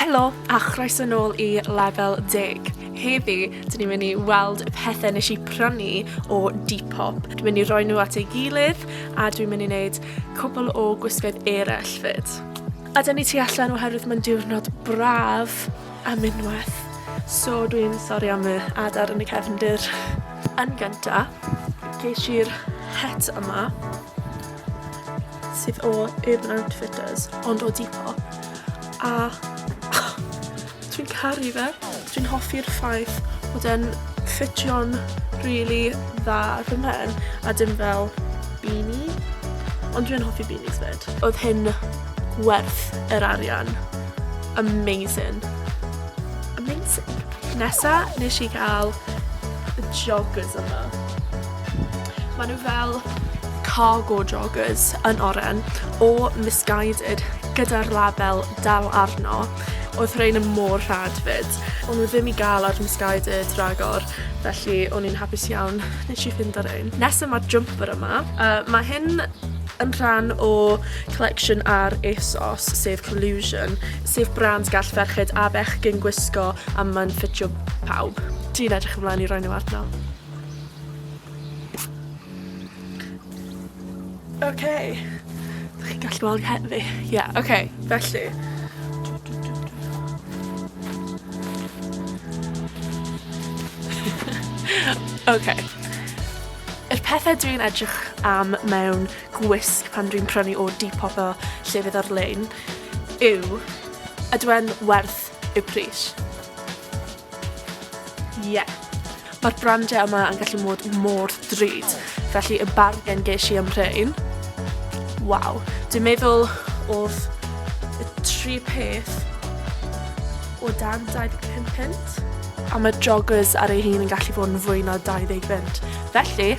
Helo a chroeso nôl i Lefel Deg. Heddi, dyn ni'n mynd i weld y pethau nes i prynu o Depop. Dwi'n mynd i roi nhw at ei gilydd a dwi'n mynd i wneud cwbl o gwisgoedd eraill fyd. A dyn ni tu allan oherwydd mae'n diwrnod braf a mynwaith. So dwi'n sori am y adar yn y cefndir. Yn gynta, gesh i'r het yma. sydd o Urban Outfitters, ond o Depop. A dwi'n caru fe. Dwi'n hoffi'r ffaith bod e'n ffitio'n really dda ar fy mhen, a dim fel beanie. Ond dwi'n hoffi beanies fyd. Oedd hyn werth yr arian. Amazing. Amazing. Nesa, nes i gael y joggers yma. Mae nhw fel cargo joggers yn oren o Missguided gyda'r label dal arno. Oedd rhain yn mor rhad fyd. O'n nhw ddim i gael ar Missguided ragor, felly o'n i'n hapus iawn nes i ffindo rhain. Nesa mae'r jumper yma. Uh, mae hyn yn rhan o collection ar ASOS, sef Collusion, sef brand gall ferched a bechgyn gwisgo a mae'n ffitio pawb. Dwi'n edrych ymlaen i roi nhw arno. Ok, dych chi'n gallu gweld nghen fi? Ie, ok, felly, Ok, yr pethe dwi'n edrych am mewn gwisg pan dwi'n prynu o Depop a llefydd ar-lein yw, ydyw e'n werth y pris? Ie. Mae'r brandiau yma yn gallu mod mor drud. Felly y bargen ges i am rhain. Waw. Dwi'n meddwl oedd y tri peth o dan 25 punt. A mae joggers ar ei hun yn gallu bod yn fwy na 20 punt. Felly,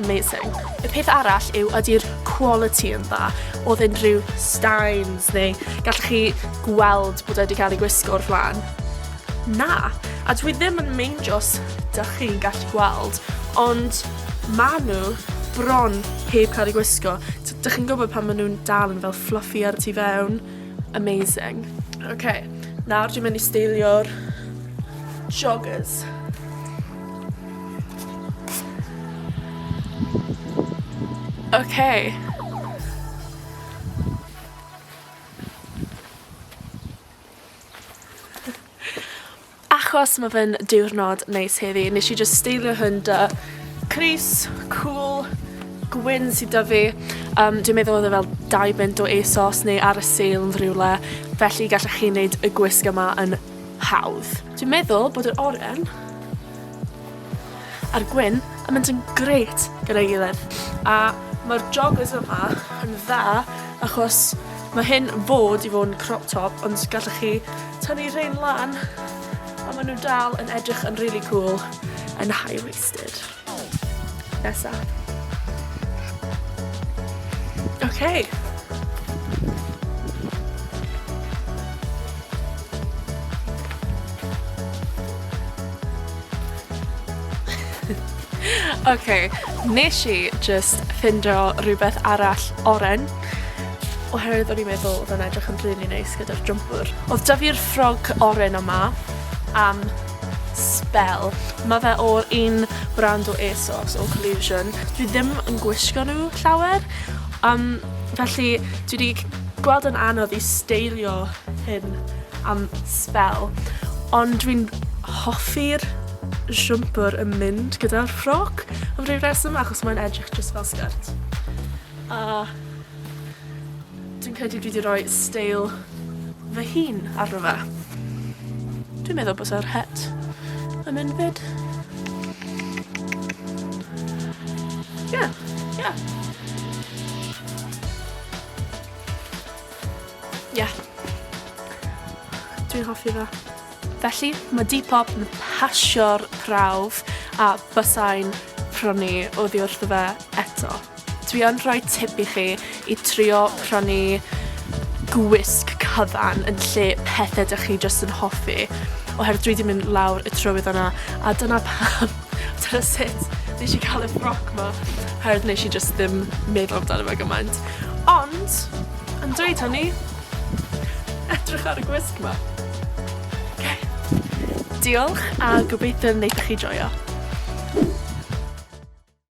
amazing. Y peth arall yw ydy'r quality yn dda oedd unrhyw steins neu gallwch chi gweld bod e wedi cael ei gwisgo o'r flaen. Na, a dwi ddim yn meindio os dach chi'n gallu gweld, ond ma' nhw bron heb cael eu gwisgo. T- Dych chi'n gwybod pan maen nhw'n dal yn fel fluffy ar y tu fewn? Amazing. Ok, nawr dwi'n mynd i steilio'r joggers. Ok. Achos ma' fe'n diwrnod neis heddi nesh i jyst steilio hwn 'da crys cŵl gwyn sy 'da fi yym dwi'n meddwl odd e fel dau bunt o Asos neu ar y sale yn rywle felly gallech chi neud y gwisg yma yn hawdd. Dwi'n meddwl bod yr oren a'r gwin yn mynd yn grêt gyda'i gilydd a mae'r joggers yma yn dda achos mae hyn yn bod i fod yn crop top ond gallwch chi tynnu rhain lan a maen nhw dal yn edrych yn really cool yn high-waisted. Nesa. Okay. Ok, nes i jyst ffindo rhywbeth arall oren, oherwydd o'n i'n meddwl oedd o'n edrych yn rili neis gyda'r jwmpwr. Oedd 'da fi'r ffrog oren yma am sbel. Mae fe o'r un brand o ASOS, o Collusion. Dwi ddim yn gwisgo nhw llawer, yym felly dwi 'di gweld yn anodd i steilio hyn. am sbel, ond dwi'n hoffi'r jwmpwr yn mynd gyda'r ffrog am ryw reswm achos mae'n edrych jyst fel sgert. A dwi'n credu dwi 'di roi steil fy hun arno fe. Dwi'n meddwl bysa'r het yn mynd 'fyd. Ie, ie. Yeah. Dwi'n hoffi fe. Felly, mae Depop yn pasio'r prawf a bysai'n prynu oddi wrtho fe eto. Dwi yn rhoi tip i chi i trio prynu gwisg cyfan yn lle pethau dych chi jyst yn hoffi oherwydd dwi wedi mynd lawr y trywydd yna a dyna pam Dyna sut nes i cael y ffroc 'ma, oherwydd nes i jyst ddim meddwl amdano fe gymaint. Ond, yn dweud hynny, edrych ar y gwisg 'ma. Oce. Diolch, a gobeithio wneith chi joio.